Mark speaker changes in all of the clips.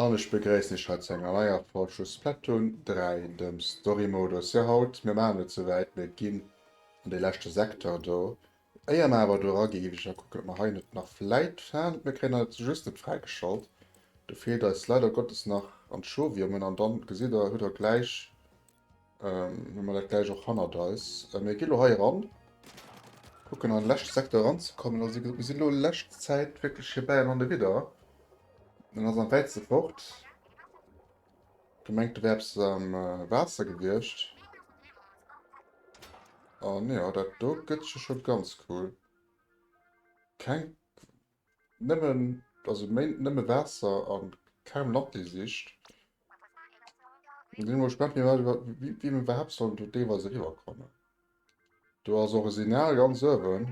Speaker 1: An ech begréissen iech hei zu enger neier Folg vu Splatoon 3, dem Storymodus. Jo, haut, mir maachen et souwäit, mir ginn an dee leschte Secteur do. Éier mer awer do era ginn, géif ech nach kucken, ob mer hei net nach vläit fanen, mir kréien et just net fräigeschalt. Do feelt eis leider Gottes nach Anchoviumen an dann gesitt der, hutt der gläich. Ähm, hun mer dat gleich och hannert eis. Äh, mir gi lo hei ran. Kucken an den leschte Sektor ranzekommen. Also mir sinn lo lescht Zäit wirklich hier bei an an de Widder. Den ass am wäitste fort. Gemengt, do wär eppes am äh, Waasser gewiescht. An ja, dat do gëtt jo scho ganz cool. Keng Nëmmen dass e Méint nëmme Waasser a kaum Lanti sicht, sinn ech mol gespaant wéi mer iwwerhaapt sollen do deelweis eriwwer kommen. Do ass och e Signal ganz uewen,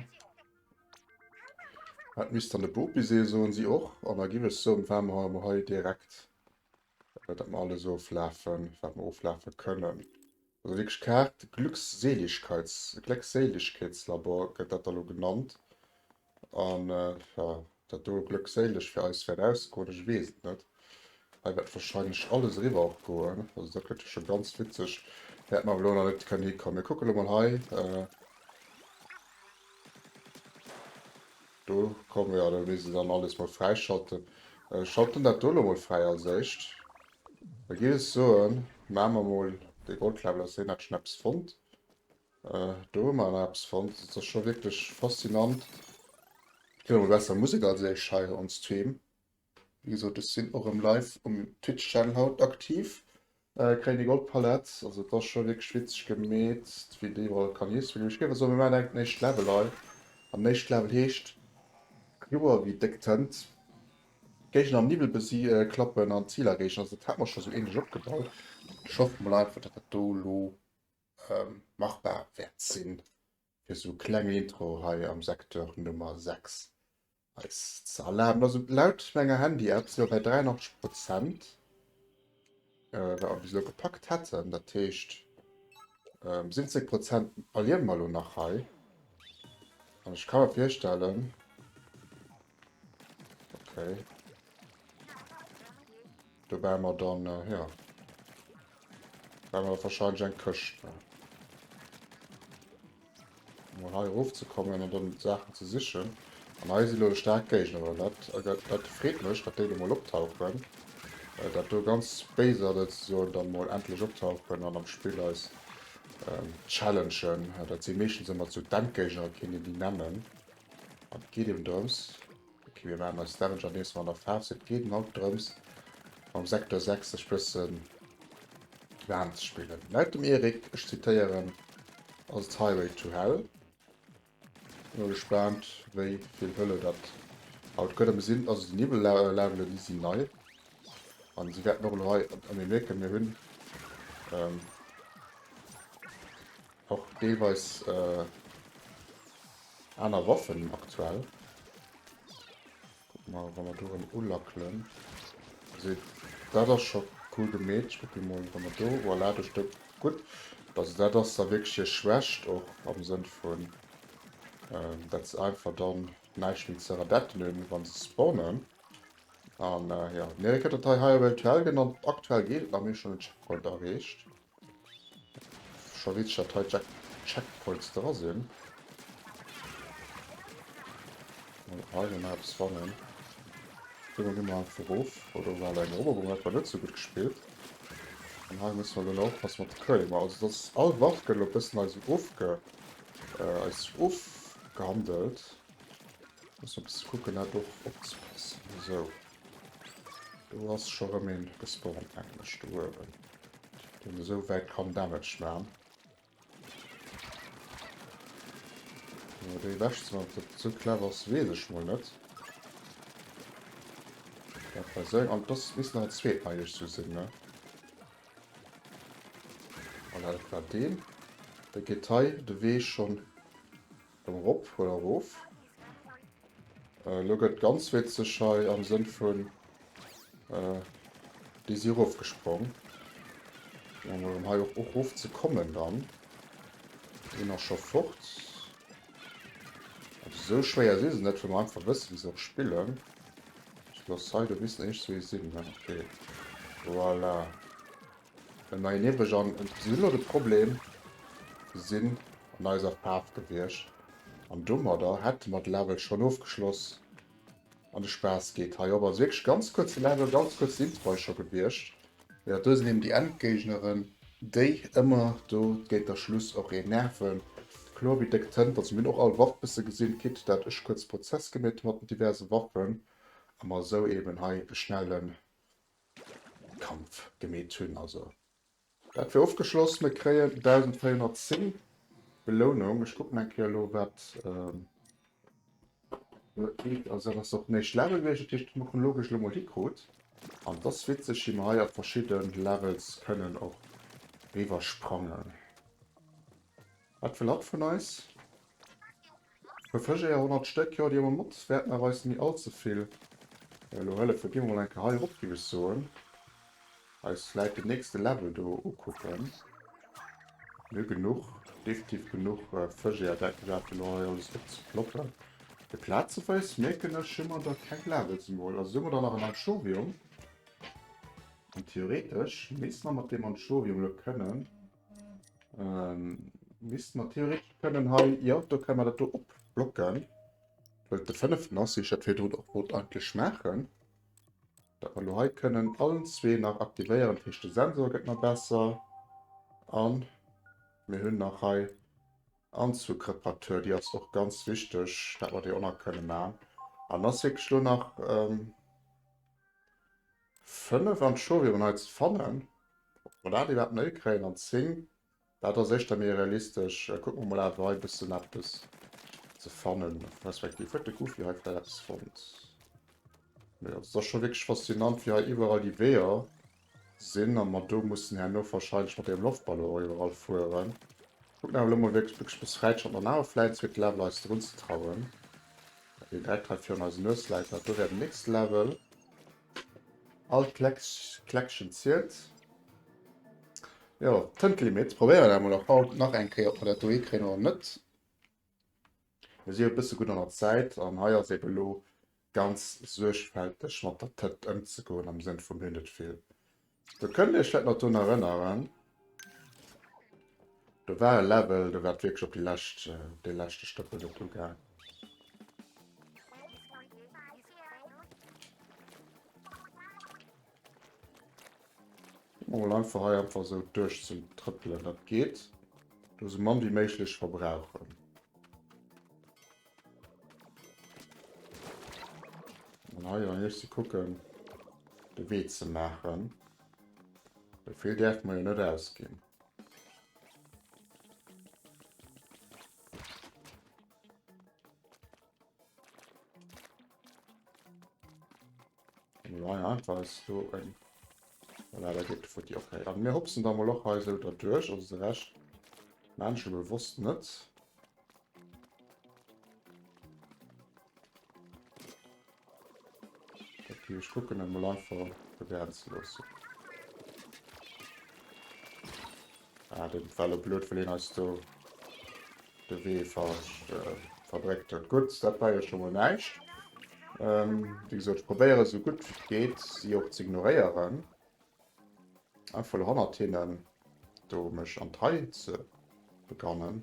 Speaker 1: dat misst dann de Bopi sinn, soen si och, an da giff ech se um waarme Hei mol hei direkt, dat mer alles oflafen wat mer oflafe kënnen. Also wierklech Kaart, Glückseligkeits, Gléckséilegkeetslabor gëtt dat da lo genannt. An ja, dat do glëckséileg fir eis wäert ausgoen, ech weess et net. Hei wäert wahrscheinlech alles eriwwer och goen. Also dat gëtt jo scho ganz witzeg. Wäert mer awer lo nach net kënnen hikommen. Mir kucke lo mol hei. Do komme, jo, do misst een dann alles mol fräischalten. Schalten dat do lo mol fräi als éischt. Da giff ech soen, maa mer mol dee Goldknäppel aus, hien hat schon eppes fonnt. Do hu mer awer eppes fonnt, also et ass scho wierklech faszinant. Et gëtt emol besser Musek als ech hei on stream. Wéi gesot, ech sinn och erëm live um Twitch Channel haut aktiv. Kréien déi Goldpalett, also et ass scho wierklech witzeg gemeet, wéi déi iwwerall kann hiesselen. Ech géif awer soen, mir maachen direkt den éischte Level hei, an den éischte Level heescht Kloer wéi déck Tënt. Géigner am Niwwel klappen an d'Zil erreechen. Dat hate mer scho sou ähnlech opgebaut. Ech hoffe mol einfach, datt dat do elo machbar wäert sinn, fir sou kleng Intro hei am Secteur Nummer 6 eis ze erlaben. Also laut menger Handy-App si mer bei 83 Prozent. Äh, wat mer bis elo gepackt hätten. Dat heescht, ähm, 70 Prozent verliere mer elo nach hei. An ech kann mir virstellen... Okay. Da wären mer dann, äh, ja... Wären mer wahrscheinlich eng Këscht. Ne? Mol hei erof ze kommen an dann Saachen ze sichen. An hei si lo de staark Géigner an dat dat freet mech, datt déi lo mol optauchen. Dat do ganz béiser Leit souzesoen da mol endlech optauchen an am Spill eis challengen. Dat si meeschtens ëmmer zu d'Endgéigner, keen deen déi nennen. An et geet eben drëms. Ok mir maachen eis Damage an deems mer an der Faarf sinn. Et geet en haut drëms mam Secteur 6 sech bëssen waarm ze spillen. Laut dem Eric, ech zitéieren, ass et Highway to Hell. Sinn mol gespaant wéi vill Hëlle dat haut gëtt. A mir sinn, also déi Niwwellevelen déi sinn nei an si wäerten och elo hei, a mir mierken mir hunn och deelweis. Aner Waffen aktuell. Guck mal, wann wir do rem ulackelen. Seht, dat ass scho cool gemeet. Ich gucken mol, wann wir do, voilà, do steht gutt. Also dat ass da wirklich hier Schwächt, och am Sënn vun, ähm, dat se einfach dann näischt méi ze radetten hun, wann se spawnen. An, äh, ja, mir, wéi gëtt dat hei, higher Welt to hell genannt. Aktuell geet et nach, mir hu schon den Checkpoint erreecht. Scho weess ech dat hei Checkpoints dra sinn. Mol hei nommai eppes fannen. Ginn mer ginn mer einfach erof. Oh do war eng Eroberung dat war net sou gutt gespillt. An hei musse mer elo nach oppassen mat de Curling. Bon also dass all Waff gëtt elo e bëssen eis esou ofge eis esou ofgehandelt. Muss mer e bësse kucken dat och opzepassen. Esou. Do ass scho rem een gespawnt mengen ech do uewen deen esou wäit kann damage maan. Mee déi ewech ze maan, ob dat esou clever ass wees ech mol net. Dat war esou eng an et ass misst nach en zweeten hei iech sou sinn ne. Voilà dat war deen. Dee geet hei de Wee schonn Komm rop oder rof. Elo gëtt ganz witzeg hei am Sënn vun déi si erof gesprong. Elo mol em hei och erof ze kommen dann. Een ass scho fort. Also sou schwéier si se net, well mer einfach wësse wéi se och spillen. Ech looss hei do bis en eech sou ee sinn. Voilà. Eng nei Niwweg an si hunn elo de Problem, se sinn an eiser Faarf gewiescht an domadder hätte mer de Level schonn ofgeschloss an de Spaass geet hei op. Also wierklech ganz kuerze Level, ganz kuerzen Intro hei scho gewiescht. Jo, do sinn eben déi Endgéigneren, déi ëmmer do géint der Schluss och een nerven. Kloer wéi déck Tënt. Also mir hunn och all Waff bësse gesinn, quitte dat ech kuerz Prozess gemeet hu mat den diverse Waffen a mer esou eben hei e schnelle Kampf gemeet hunn. Also dat wier ofgeschloss. Mir kréien 1.410 Belounung. Ech kucken eng Kéier elo wat do kritt. Also dat ass och den éischte Level gewiescht. Dat heescht ech mussen elo gech elo mol hikrut. An dass witzeg wéi mer hei a verschidde Levels kënnen och riwwer sprangen. Wat wëll hatt vun eis? Puer Fëschéier, 100 Stéck, jo, déi hu mer mat. Wäerten awer eis ni all ze vill elo hëllefen. Gi mer mol eng Kéier hei erop, géif ech soen. Eis vläit den nächste Level do ukucken. Nö, genuch, definitiv genuch Fëschéier, dat gëtt dat elo hei alles opzeploppen. Fir plazeweis, mierken ech, hu mer der keng Levels emol. Also hu mer der nach en Anthurium. An theoretesch misste mer mat deem Anthurium elo kënnen. Ähm, misst man theoretisch können hei, ja, da kann man das hier abblocken. Weil der fünften ist, ich hätte hier auch wollte eigentlich machen. Da wir hier können allen zwei nach aktivieren, das heißt, der Sensor geht noch besser. Und wir haben noch hier Anzugreparatur, die ist auch ganz wichtig, dass wir die auch noch können machen. Und das ist wirklich nur noch, ähm, 5 an d'Show wier mer nei ze fannen. Ob mer dat iwwerhaapt nei kréien an 10, dat ass éischter méi realistesch. Kucke mer mol awer hei e bëssen eppes ze fannen, respektiv huet de Goofy hei vläicht eppes fonnt. Mee also et ass scho wierklech faszinant, wéi hei iwwerall déi Weeër sinn a mer do mussen herno wahrscheinlech mat deem Loftballon och iwwerall fueren. Kuckt nach elo mol wierklech béckeg bis räit schonn an awer vläit zweete Level eis drun ze trauen, dat deen Dreck hei virun eisen Nues läit, dat do wär den nächste Level. All Kleckchen zielt. Jo, Tëntelimeet probéieren ech emol och haut nach eng Kéier, ob mer dat do hikréien oder net. Mir si jo e bësse gutt an der Zäit an hei ass eebe elo ganz suergfälteg mat der Tënt ëmzegoen, am Sënn vum hunn net vill. Do kënnt Dir Iech vläit nach drun erënneren, do war e Level, do war et wierklech op déi lescht, dee leschte Stëppel net ugaang. Mol einfach hei einfach sou duerch ze trëppelen, dat geet. Do sou mann wéi méiglech verbrauchen. An hei an hierste kucken de Wee ze maachen. Well vill däerft mer jo net ausginn. Nein, einfach ist so ein. Voilà, da geht für die okay. Aber wir hupsen da mal auch hier so da durch, also der Rest. Menschen bewusst nicht. Okay, ich gucke mal einfach begrenzen lassen. Ah, dat war lo blöd, well hien eis do de Wee verbréckt huet. Gutt, dat war jo scho mol näischt. Ähm, wéi gesot, ech probéieren esou gutt wéi et geet, si och z'ignoréieren. Einfach lo hannert hinnen do mech an d'Rei ze begannen.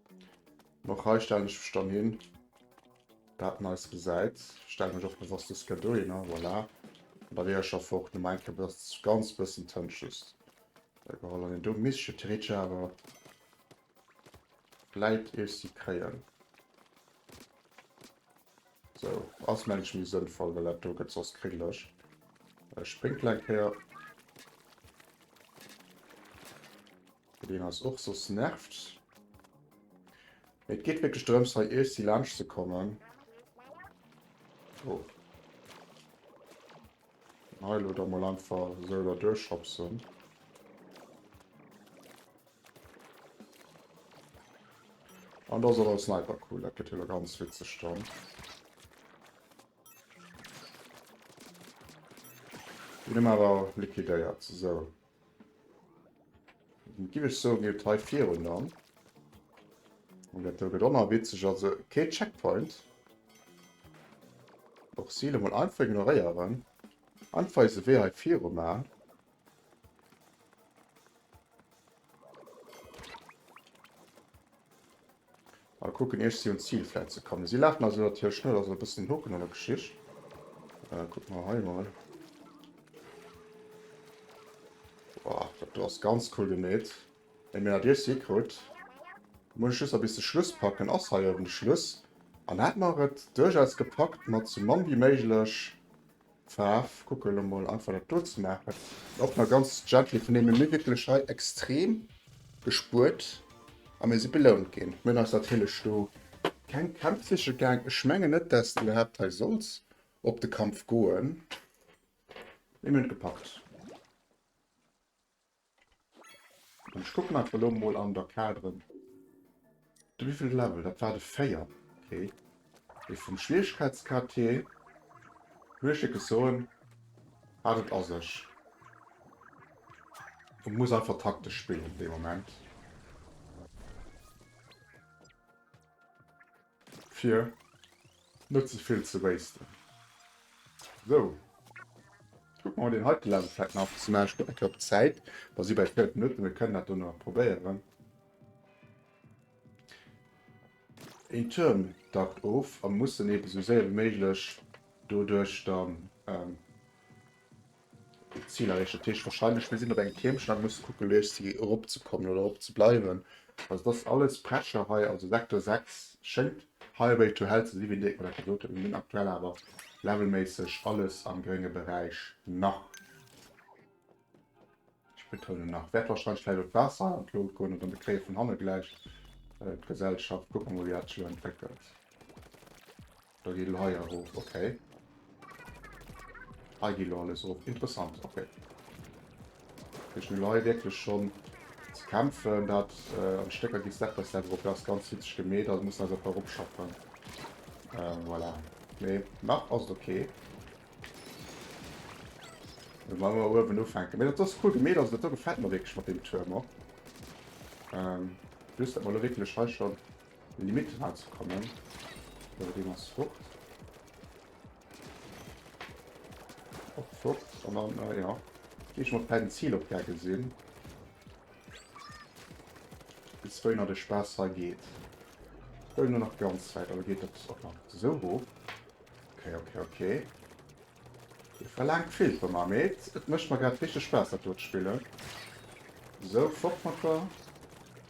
Speaker 1: Och hei stellen ech mech dann hin. Dat neist gesäit. Stellen mech och bewosst des Kër do hin. Voilà. Da wier ech einfach och no mein Kër bëss, ganz bëssen Tënt just äh, geholl. An do misst ech theoretesch awer vläit Össi kréien. So, ass mengen ech méi sënnvoll, well dat do gëtt soss kringlech. Äh, springt kleng Kéier. Fir deen ass och soss nervt. Et geet wierklech drëms hei easy laanscht ze kommen. Oh. Heil oder mal einfach so da durchschopsen. An da soll als Sniper cool, dat gëtt hilo ganz witzeg dann. Bin awer liquidéiert, so. Giff ech soen gelt hei virun dann. An dat do gëtt onerwitzeg, also kee Checkpoint. Och Ziele mol einfach ignoréieren. Einfach eise Wee hei viru maachen. Mal kucken ier ech si un d'Zil flätzen kann. Si laachen also natierlech net, also e bëssen en Hoken an der Geschicht. Äh, kuck mal hei mal. Boah, dat do ass ganz cool gemeet. Eng Männer Dir si krut. Muss ech just nach bis de Schluss packen. Ass hei oben de Schluss. An hat mer et duerchaus gepackt mat sou mann wéi méiglech. Faarw kucke lo mol einfach dat do ze maachen och nach ganz gently vun deem mir wierklech hei extrem gespuert a mir si belount ginn. Mir hunn eis natierlech do keng Kämpf siche gaang. Ech mengen net, dass de iwwerhaapt hei solls op de Kampf goen, mee mir hunn et gepackt. An ech kucken einfach lo mol an der Cadre. De wievelt Level? Dat war de 4. Ok. Mee vum Schwieregkeitsgrad hier muss ech iewes soen, hat et a sech. Et muss einfach taktesch spillen dee Moment. Fir net ze vill ze wasten. Sou. Kucken mer mol deen heite Level vläit nach ze maachen. Ech kucken eng Kéier op d'Zäit. Mer si bäi 4 Minutten. Mir kënnen dat do nach probéieren. Een Tuerm dackt of a mussen eeben esou séier wéi méiglech doduerch dann. D'Zil erreechen, dat heescht wahrscheinlech, mir sinn op engem Tiermchen a musse kucken, lo iergsi eropzekommen oder erop ze bleiwen. Also, et ass alles Pressure hei, also Sektor 6 schéngt Highway to Hell ze sinn, wéi den Dirk mer dat gesot huet. Mir sinn aktuell awer levelméisseg alles am grénge Beräich, nach. Ech betounen nach. Wäert wahrscheinlech vläicht op d'Waasser an d'Lod goen oder mir kréie vun hanne gläich d'Gesellschaft. Kucke mer mol, wéi dat sech elo entwéckelt. Da geet elo hei erof, ok. Hei geet elo alles erof, interessant, ok. Dat heescht, mir hunn hei wierklech schonn ze kämpfen, dat an d'Stécker geet, Step by Step erop. Dat ass ganz hitzeg gemeet, also mussen eis einfach eropschaffen. Voilà. Mee nach ass et ok. Da wollen mer uewen ufänken. Mee dat ass cool gemeet, also dat do gefält mer wierklech mat deem Tuerm och. Just, datt mer elo wierklech hei schonn An déi Mitte ran ze kommen. Sou, deen ass fort. Och fort. An dann, äh, ja. Geh ich mal d'Pläin Ziel op Gecke sinn. Bis wéiner de Spaß hei geht. Hol nur nach ganz weit, aber geht das auch noch so hoch. Okay, okay, okay. Ihr verlangt viel von mir, mit. Es möchte mir gerade richtig Spaß, das dort spielen. So, fort mit da.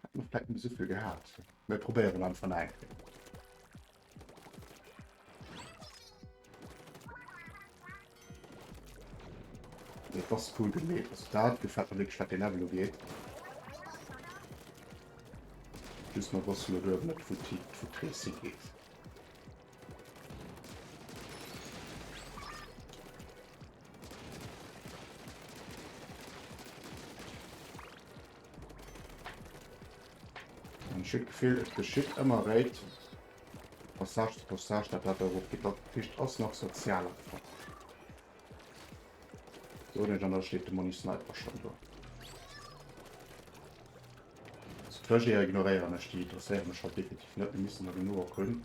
Speaker 1: Hätten mer vläit net esou vill gehat. Mir probéieren einfach nach eng Kéier. Dat ass cool gemeet. Also dat gefält mer wierklech, wat dee Level ugeet. Just mer wosste lo duerwen net, wou d'Ti, wou d'Rees higeet. Ein schitt Gefill, et geschitt ëmmer réit. Passage zu Passage, dat dat euro Gitter Ficht ass nach sozial einfach. So net an der steet de Moni Sniper schon do. Trajeier ignoréieren ech, déi interesséiere mech halt definitiv net, mir missen der genuch erkunden.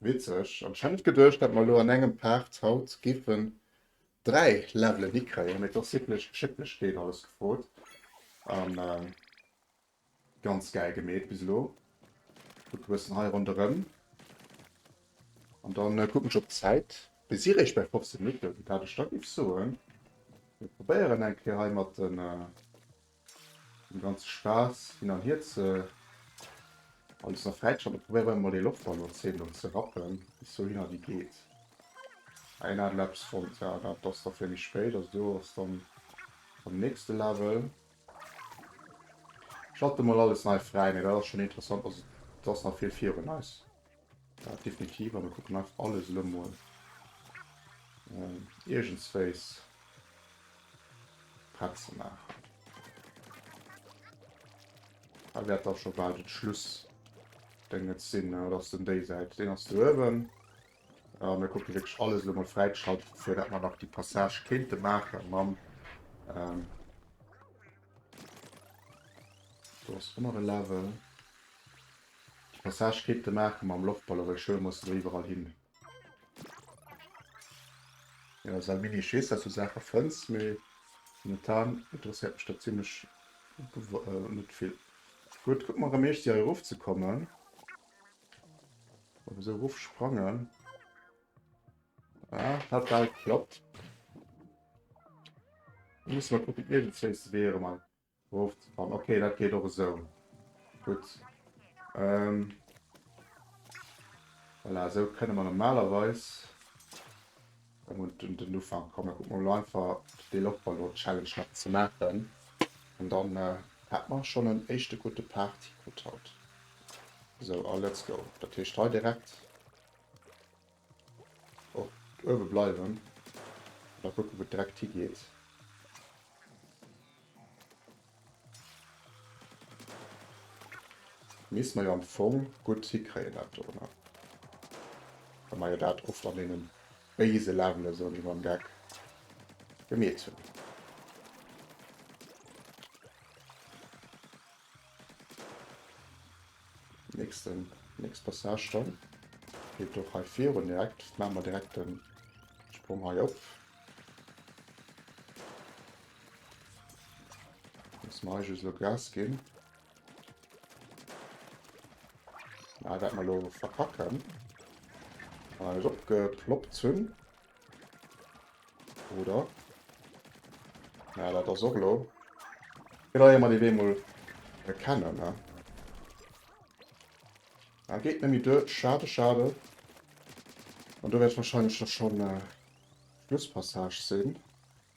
Speaker 1: Witzeg. An ech hat net geduecht dat mer elo an engem Part haut géifen 3 Levelen hikréien, mee et ass wierklech Geschicklegkeet alles gefrot an ganz gäil gemeet bis elo. Kucke bëssen hei ronderëm an dann kucken ech op d'Zäit. Mir si réischt bäi 15 Minutten, dat ech da géif soen mir probéieren eng Kéier hei mat den. Den ganze Spaass hin an hier ze alles nach fräischalten. Probéieren wir mal den Lochball no 10 Minuten ze rappen, bis dohin a wie geet. Ein hat Laps von ja, dat ass da fir méi spéit, also do ass dann am nächste Level. Schalte mal alles nei frei, mir dat ass schon interessant, also do ass nach vill virun eis. Ja, definitiv. An mir kucken einfach alles elo mol ähm, iergendswéis prett ze maachen. Da wäert da scho bal den Schluss Dinge sinn, ne? Oder ass den déi Säit? Den ass do uewen. Ja, mir kucken wierklech alles elo mol fräigeschaltet, fir dat man nach die Passage kéinte maache mam ähm, do ass ënner e Level. De Passage kéint e maache mam Loftballon, well Schëlm muss elo iwwerall hin. Jo, säi Mini-Schiss, dass du Saache fënns, mee momentan interesséiert mech dat zimlech net vill. Gutt, kucke mer erëm eescht si hei erof ze kommen. Ob esou erof sprangen. Ah, hat bal geklappt. Muss mer kucken, iergendswéi ass de Wee erëm an. Rofzefall, ok dat geet och esou gutt. Voilà esou kënne mer normalerweis erëm un den Ufank kommen. Kucke mer elo einfach fir dee Loftballon-Challenge nach ze maachen an dann hätte mer schonn en éischte gudde Partycode haut. Esou a let's go. Dat heescht hei direkt. Oh, uewe bleiwen. Mal kucken, wou d'Dreckt higeet. Misst mer jo am Fong gutt hikréien, dat do, ne? Wa mer jo dat oft an deene béise Levele sou ewéi mam Geck gemeet hunn. Nächsten nächst Passage dann geet och hei virun direkt maa mer direkt den Sprong hei op. Muss mer hei just lo Gas ginn. Ah, dat mer lo verkacken. An alles opgeploppt hunn. Oder? Ja, dat ass och lo. Gët awer mat iwwee mol erkennen, ne? Ah, geet nemmi duer. Schade, schade. An do wäert wahrscheinlech da schon Schlusspassage sin.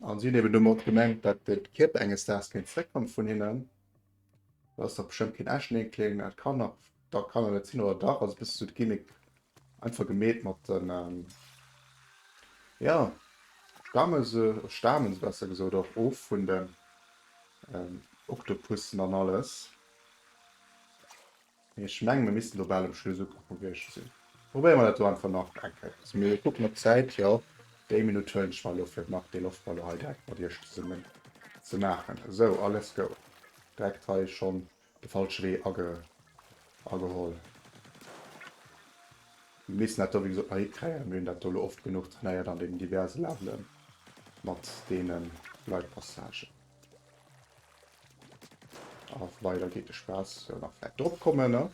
Speaker 1: An si hunn eben domat gemengt, datt de Kierper enges Daags kéint zeréckkomme vun hinnen. Dat ass dach bestëmmt keen echten Eenkling, dat kann nach dat kann et net sinn, oder dach? Also e bëssen esou d'Gimmick einfach gemeet mat den, jo, stamme se, stamen se besser gesot och of vun den Oktopussen an alles. Ech mengen mir missten do bal um Schluss ukomm vum Bierg sinn. Probéiere mer dat do einfach nach eng Kéier. Lasse mir kucken op d'Zäit, jo déi Minutt huelen ech mer elo fir nach dee Loftballon hei direkt mat iech zesummen ze maachen. Esou a let's go. Direkt hei schonn de falsche Wee ageholl. Mir missten dat do wéi gesot nach hikréien. Mir hunn dat do elo oft genuch trainéiert an deenen diverse Levelen mat deene Gleitpassagen. Ach, weiter geht der Spaß. Ja, nach vielleicht drauf kommen, ne?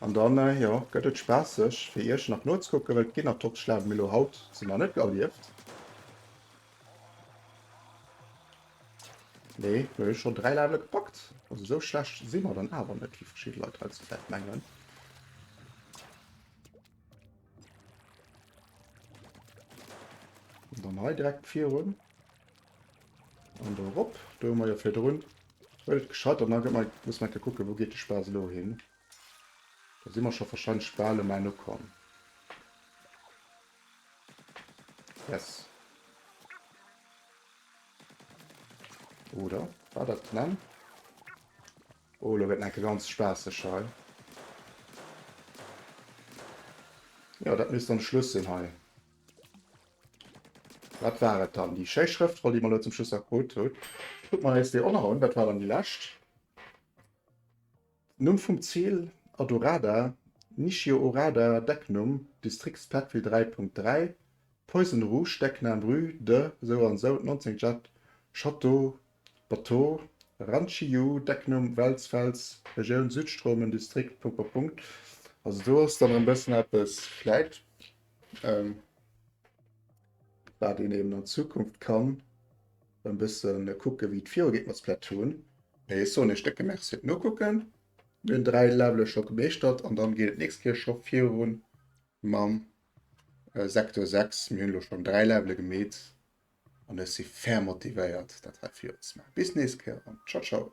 Speaker 1: An dann, äh, ja, gëtt et spaßig, fir Iech nach nozukucken, well d'Ginner Tops schlafen mir lo haut sinn nach net erlieft. Nee, mir hun schon drei Level gepackt. Also so schlecht si mer dann awer net, wie verschiedene Leute heutzutage mengen. Und dann hei direkt virun. Und da rop. Da hun mer jo fir drun. Welt gescheit an dann muss man kucken wou geet de Spaass lo hin. Da si mer scho wahrscheinlech bal um Enn ukomm. Yes. Oder? War dat nennen? Oh, lo gëtt et enke ganz spaasseg hei. Jo, dat misst dann de Schluss sinn hei. Wat war et dann? Déi schéi Schrëftroll, déi mer elo zum Schluss nach krut hunn. Kucke mer eis déi och nach un. Wat war dann déi lescht? Numm vum Zil, Adorada, Nishio Orada, Decknumm, Distrikt Splatfil 3.3, Poison Rouge, Decknaam, Rue de sou an sou 19 Jade, Château. Bateau, Ranchi-Yu, Decknumm, Welz, Fels, Regioun, Südstrom, en Distrikt, Punkt, Punkt, Punkt, also do ass dann en bëssen eppes vläit ehm wat een eben an Zukunft kann en bëssen kucken wéi et viru geet mat Splatoon. Mee ech soen iech décke Merci fir d'Nokucken, mir hunn 3 Levele scho gemeeschtert an dann geet et nächst Kéier scho virun mam Sektor 6, mir hunn elo schonn 3 Levele gemeet An ech si ferm motivéiert dat hei virunzemaachen. Bis nächst Kéier an ciao ciao!